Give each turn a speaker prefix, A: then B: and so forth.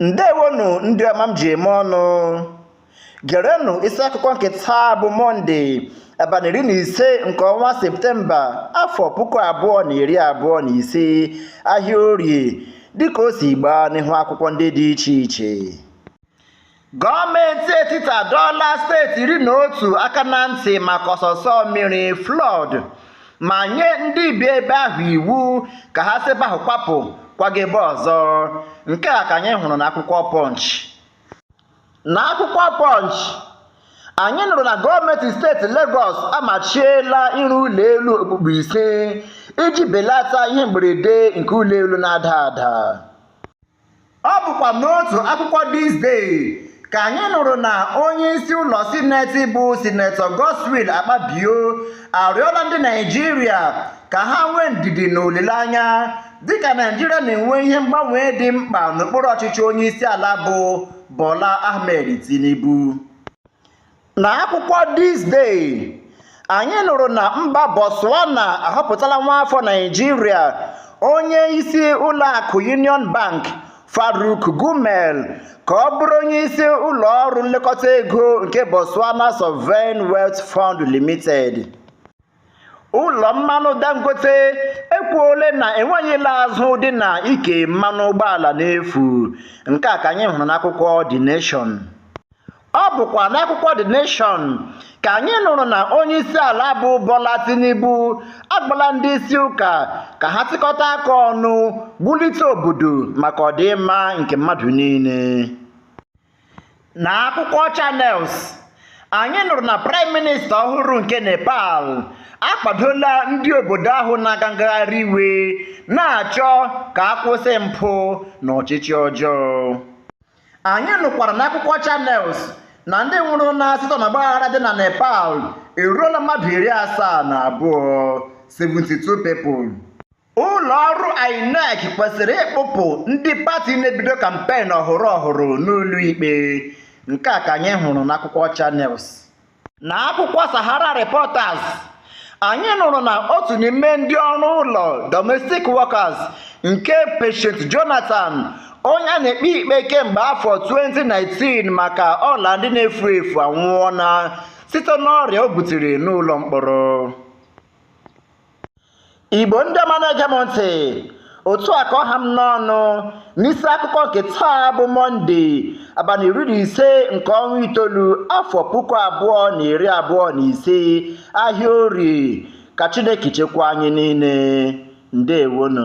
A: ndewonu ndị ọma m ji eme ọnụ gerenụ isi akụkọ nke taa bụ mọnde abalị iri na ise nke ọnwa septemba afọ puku abụọ na iri abụọ na ise ahịa orie dịka o si gbaa n'ihu akwụkwọ ndị dị iche iche Gọọmenti etiti adọọla steeti iri na otu aka na ntị maka ọsọsọ mmiri flood ma nye ndị bi ebe ahụ iwu ka ha si ebe ahụ kwapụ kwaga ebe ọzọ. Nke a ka anyị hụrụ n'akwụkwọ Punch. N'akwụkwọ Punch, anyị nụrụ na gọọmenti steeti Legọs amachiela ịrụ ụlọ elu okpukpu ise iji belata ihe mberede nke ụlọ elu na-ada ada. Ọ bụkwa n'otu akwụkwọ This Day ka anyị nụrụ na onye isi ụlọ sineti bụ sinetọ Godswill Akpabio arịọla ndị Naịjirịa ka ha nwee ndidi na olileanya dịka Naịjirịa na-enwe ihe mgbanwe dị mkpa n'okpuru ọchịchị onye isi ala bụ Bola Ahmed Tinubu. na akwụkwọ This Day anyị nụrụ na mba Botswana ahọpụtala nwaafọ Naịjirịa onye isi ụlọakụ Union Bank Farouk Gumel ka ọ bụrụ onye isi ụlọ ọrụ nlekọta ego nke Botswana Sovereign Wealth Fund Limited. ụlọ mmanụ dangote ekwuole na enweghị ịla azụ dị na ike mmanụ ụgbọala n'efu nke a ka anyị hụrụ n'akwụkwọ The Nation ọ bụkwa n'akwụkwọ The Nation ka anyị nụrụ na onye isi ala bụ Bola Tinubu agbala ndị isi ụka ka ha tikọta aka ọnụ bulite obodo maka ọdịmma nke mmadụ niile Na akwụkwọ Channels, anyị nụrụ na Praịm Minista ọhụrụ nke Nepal akwadola ndị obodo ahụ na-aga ngagharị iwe na-achọ ka a kwụsị mpụ na ọchịchị ọjọọ. Anyị nụkwara n'akwụkwọ Channels na ndị nwụrụ na site na ọgbaghara dị na Nepal eruola mmadụ iri asaa na abụọ, 72 people. ụlọ ọrụ INEC kwesịrị ịkpụpụ ndị pati na-ebido kampen ọhụrụ ọhụrụ n'ụlọ ikpe nke a ka anyị hụrụ n'akwụkwọ Channels na akwụkwọ Sahara Reporters anyị nụrụ na otu n'ime ndị ọrụ ụlọ domestic workers nke Patience Jonathan onye a na-ekpe ikpe kemgbe afọ 2019 maka ọla ndị na-efu efu anwụọla site n'ọrịa o butere n'ụlọ mkpọrọ Igbo ndị ọma na-ege m ntị otu a ka ọ ha m n'ọnụ n'isi akụkọ nke taa bụ mọnde abalị iri na ise nke ọnwa itoolu afọ puku abụọ na iri abụọ na ise ahịa orie ka chineke chekwaa anyị niile ndewonu